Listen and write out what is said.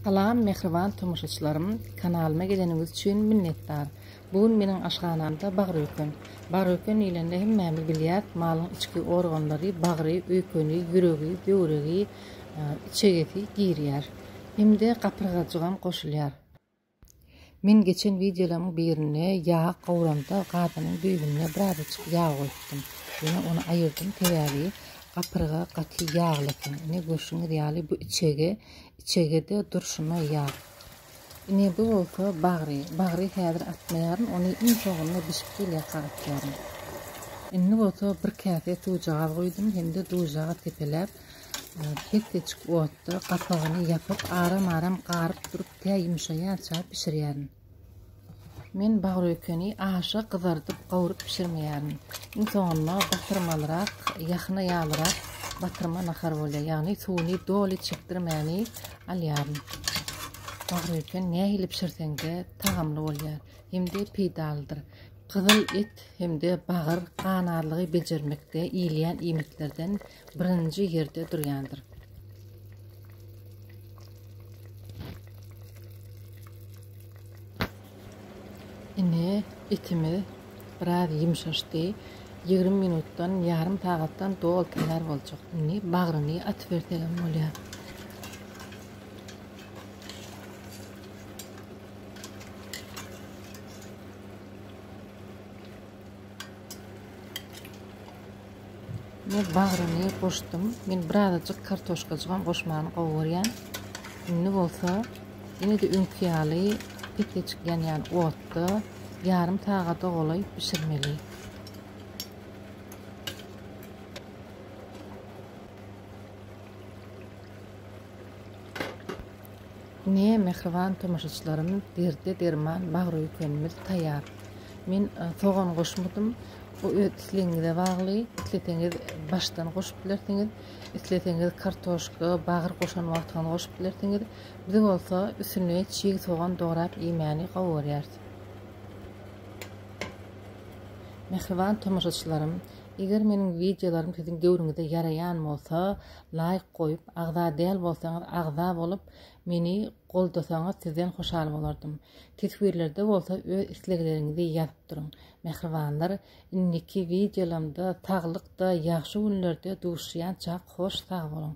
Salam mähriban tomaşaçylarym kanalyma geleniňiz üçin minnetdar bu gün meniň aşhanamda bagyr öýken bagyr öýken diýlende hemmämiz bilýäs malyň içki organlary bagry öýkeni ýüregi böwregi içegesi girýär hemde gapyrgajygam goşulýar. Men geçen wideolaryň birinde ýag gowramda gazynyň düýbünde birazajyk ýag goýupdym. Ýöne ony aýyrdym sebäbi gapyrga gaty ýagly eken. Ine görşüňiz ýaly bu içege, içegede durşuna ýag. Ine bu bolsa bagry. Bagry häzir atmaýaryn, ony iň soňunda bişip gelýärka atýaryn. Indi bolsa bir käse suwjagaz goýdum hem-de duzaga sepeläp Hekgeçik otda gapagyny ýapyp, aram-aram garyp durup, tä ýumşaýança bişirýärin. Men bagökeni aşa gyzardyp, gawuryp bişirmeýärin. Iň soňunda batyrmalyrak, ýahna ýalyrak batyrma nahar bolýar. Ýagny suwuny doly çekdirmäni alýaryn. Bagöken nähili bişirseň-de tagamly bolýar hem-de peýdalydyr. Gyzyl et hem-de bagyr ganarlygy bejermekde iýilýän iýmitlerden birinji ýerde durýandyr. Indi etimiz biraz ýumşaşdy. 20 minutdan, ýarym sagatdan dol taýýar boljak. Indi bagryny atyp berseň bolýar. Men bagryny goşdum. Men birazajyk kartoşkajygam goşmany gowy görýän. Indi bolsa ýene-de öňki ýaly petlejik ýanýan otda ýarym sagada golaý bişirmeli. Ine, mähriban tomaşaçylarymyz, derde derman bagryöýkenimiz taýýar. Men sogan goşmadym. Bu öz islegiňize bagly. Isleseňiz başdan goşup bilersiňiz. Isleseňiz kartoşka, bagyr goşan wagtyňyz goşup bilersiňiz. Biz bolsa üstüne çig sogan dograp iýmäni gowy görýäris. Mähriban tomaşaçylarym, eger meniň wideolarymy siziň göwrüňize ýaraýan bolsa, laýk goýup, agza däl bolsaňyz agza bolup meni goldasaňyz sizden hoşal bolardym. Teswirlerde bolsa öz islegleriňizi ýazyp duruň. Mähribanlar indiki wideolamda saglykda ýagşy günlerde duşýançak hoş sag boluň.